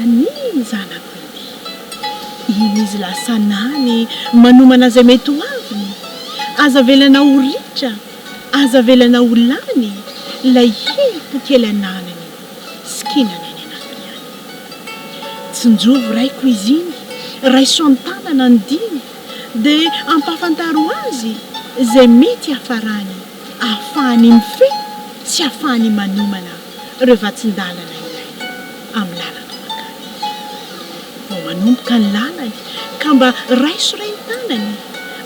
Ani zanako iny. Iny izy lasa nany manomana izay mety ho aviny. Aza avelana ho ritra, aza avelana ho lany ilay herim-po kely ananany sikina ny any anatiny any. Tsinjovy raiko izy iny, raiso an-tanana ny diny dia ampahafantaro azy izay mety hiafarany ahafahany mifehy sy ahafahany manomana ireo vatsin-dalana ilainy. amin'ny lalanao hankany. Vao manomboka ny lalany ka mba raiso re ny tanany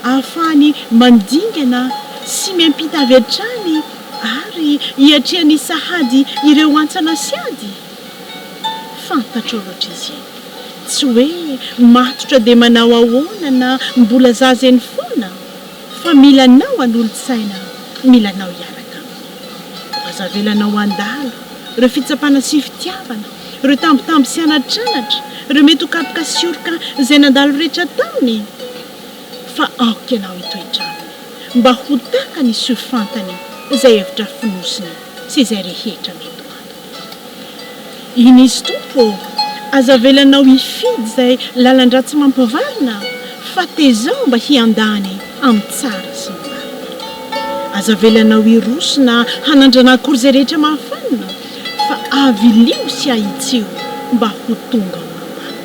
ahafahany mandingana sy miampita avy hatrany ary hiatrehany sahady ireo antsana sy ady. Fantatrao loatra izy iny, tsy hoe matotra dia manao ahoana na mbola zaza eny foana. Fa mila anao hanolo-tsaina, mila anao hiaraka aminy. Aza avelanao handalo ireo fitsapana sy fitiavana, ireo tambitamby sy anatranatra, ireo mety ho kapoka sy oroka izay nandalo rehetra taminy, fa aoka ianao hitoetra aminy mba ho takany sy ho fantany izay hevitra fonosiny sy izay rehetra mety ho antony. Iny izy Tompo ô! Aza avelanao hifidy izay lalan-dratsy mampavalona fa tezao mba hiandany amin'ny tsara sy ny marina. Aza avelanao hiroso na hanandrana akory izay rehetra mahafanina fa avilio sy ahitsio mba ho tonga ho ampahany.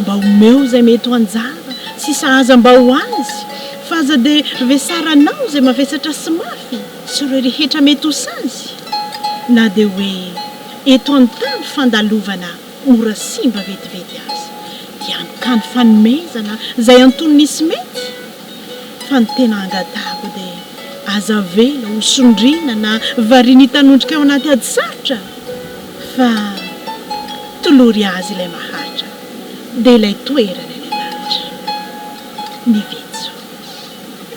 Mba omeo izay mety ho anjara sy sahaza mba ho azy fa aza dia vesaranao izay mavesatra sy mafy. Sy ireo rehetra mety ho sazy na dia hoe eto an-tany fandalovana ora simba vetivety aza, dia mitany fanomezana izay anton'ny misy mety, fa ny tena angatahako dia aza avela ho sondriana na variana hitanondrika ao anaty ady sarotra, fa tolory azy ilay mahantra, dia ilay toerany any an-danitra. Ny Vetso.